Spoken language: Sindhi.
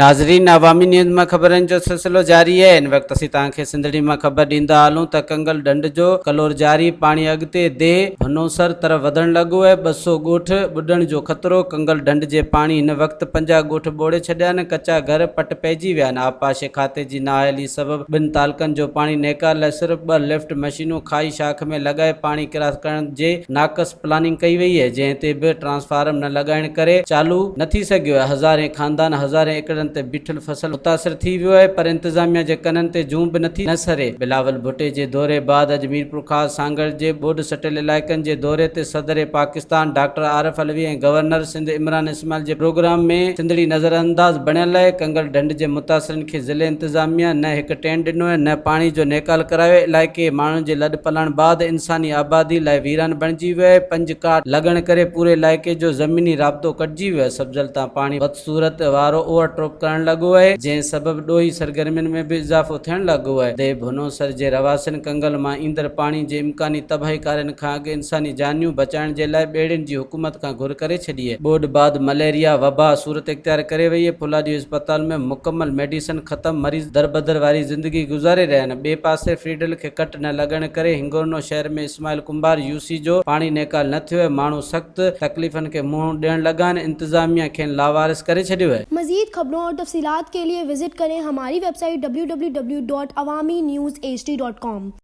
ناظرين عوامي نيوز مان خبرن جو سلسلو جاري آهي ان وقت اسين توهان کي سنڌڙي مان خبر ڏيندا هلون ته ڪنگل ڍنڍ جو ڪلور جاري پاڻي اڳتي ديهه ڀنوسر طرف وڌڻ لڳو آهي ٻه سؤ ڳوٺ ٻڏڻ جو خطرو ڪنگل ڍنڍ جي پاڻي هن وقت پنجاهه ڳوٺ ٻوڙي ڇڏيا آهن ڪچا گهر پٽ پئجي ويا آهن آبپاشي کاتي جي نااهلي سبب ٻن تعلقن جو پاڻي نيڪار لاء صرف ٻه لفٽ مشينون کاهي شاخ ۾ لڳائي پاڻي ڪراس ڪرڻ جي ناقص پلاننگ ڪئي وئي اهي جنهن تي به ٽرانسفارم نه لڳائڻ ڪري چالو نه ٿي سگهيو اهي هزارين خاندان هزارين ايڪڙن تي بيٺل فصل متاثر ٿي ويو اهي پر انتظاميا جي ڪنن تي جون به نه ٿي نسري. بلاول ڀٽي جي دوري بعد اڄ ميرپورخاص سانگهڙ جي ٻوڏ سٽيل علائقن جي دوري تي صدر پاڪستان ڊاڪٽر عارف علوي ۽ گورنر سنڌ عمران اسماعيل جي پروگرام ۾ سنڌڙي نظرانداز بڻيل آهي، ڪنگل ڍنڍ جي متاثرن کي ضلعي انتظاميه نه هڪ ٽين ڏنو ۽ نه پاڻي جو نيڪال ڪرايو، علائقي ماڻهن جي لڏ پلاڻ بعد انساني آبادي لاء ويران بڻجي ويو آهي، پنج ڪاٺ لڳڻ ڪري پوري علائقي جو زميني رابطو ڪٽجي ويو آهي، سبزل تان پاڻي بدصورت وارو اوور ٽوپ ڪرڻ لڳو آهي، جنهن سبب ڏوهي سرگرمين ۾ به اضافو ٿيڻ لڳو آهي، ديهه ڀونوسر جي رهواسين ڪنگل مان ايندڙ پاڻي جي امڪاني تباهيڪارين کان اڳ انساني جانيون بچائڻ جي لاء ٻيڙين جي حڪومت کان گهر ڪري ڇڏي. ٻوڏ بعد مليريا وبا صورت اختيار ڪري وئي آهي، ڦولادي اسپتال ۾ مڪمل ميڊيسن ختم، مريض دربدر واري زندگي گذاري رهيا آهن، ٻئي پاسي فيڊل کي ڪٽ نه لڳڻ ڪري هنگورنو شهر ۾ اسماعيل ڪنڀار يو سي جو پاڻي نيڪال نه ٿيو آهي، ماڻهو سخت تڪليفن کي منهن ڏيڻ لڳا آهن، انتظاميا کين لاوارث ڪري ڇڏيو آهي. مزيد خبرون اور تفصيلات کے ليے وزٽ ڪرين ھماري ويب سائيٽ www.awaminews hd.com.